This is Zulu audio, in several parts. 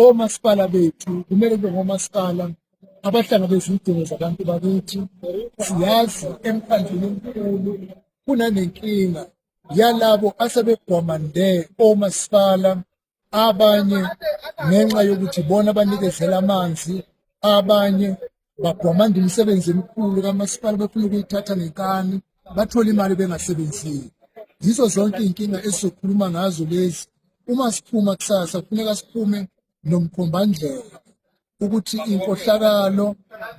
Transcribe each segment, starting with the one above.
omasipala bethu kumele kube ngomasipala abahlangabeza izidingo zabantu bakithi siyazi emkhandlwini omkhulu kunanenkinga yalabo asebegwamande omasipala abanye ngenxa yokuthi bona banikezela amanzi abanye bagwamanda imisebenzi emikhulu kamasipala befuna ukuyithatha ngenkani bathole imali bengasebenzile yizo zonke iy'nkinga esizokhuluma ngazo lezi uma siphuma kusasa kufuneka siphume nomkhombandlela ukuthi inkohlakalo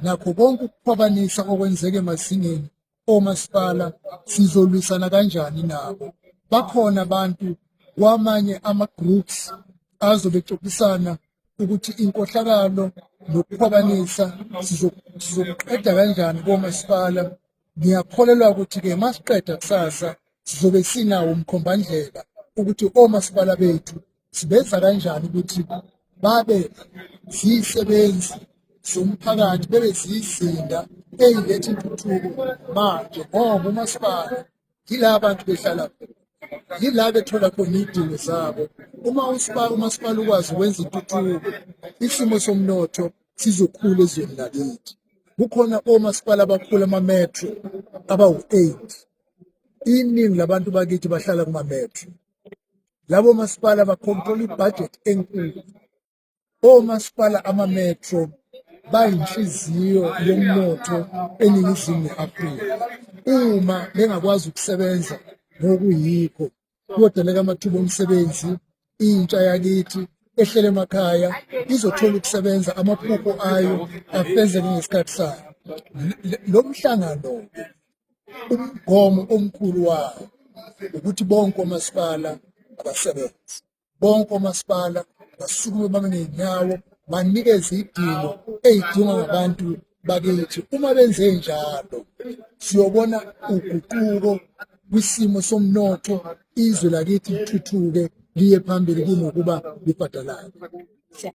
nakho konke ukukhwabanisa okwenzeke emazingeni omasipala sizolwisana kanjani nabo bakhona abantu kwamanye ama-groups azobe exoxisana ukuthi inkohlakalo nokukhwabanisa sizokuqeda kanjani komasipala ngiyakholelwa ukuthi-ke masiqeda kusasa sizobe sinawo umkhombandlela ukuthi omasipala bethu siveza kanjani ukuthi babe zisebenzi zomphakathi bebe zizinda eyiletha intuthuko manje ngoba umasipala yila bantu behlala yila bethola khona iy'dingo zabo uma usipala umasipala ukwazi ukwenza intuthuko isimo somnotho sizokhula ezweni lakithi kukhona omasipala abakhulu amametro abawu-eight iningi labantu bakithi bahlala kumametro labo masipala bakhontrola ibhajethi enkulu omasipala amametro bayinhliziyo yomnotho eningizimu ne-afrika uma bengakwazi ukusebenza ngokuyikho kuyodeleka amathuba omsebenzi intsha yakithi ehlele emakhaya izothola ukusebenza amaphupho ayo afezeke ngesikhathi sayo lo mhlangano umgomo omkhulu wayo ukuthi bonke omasipala abasebenzi bonke omasipala basukume babe ney'nyawo banikeze idingo ey'dingwa ngabantu bakithi uma benze njalo siyobona uguquko kwisimo somnotho izwe lakithi lithuthuke liye phambili kunokuba libhadalale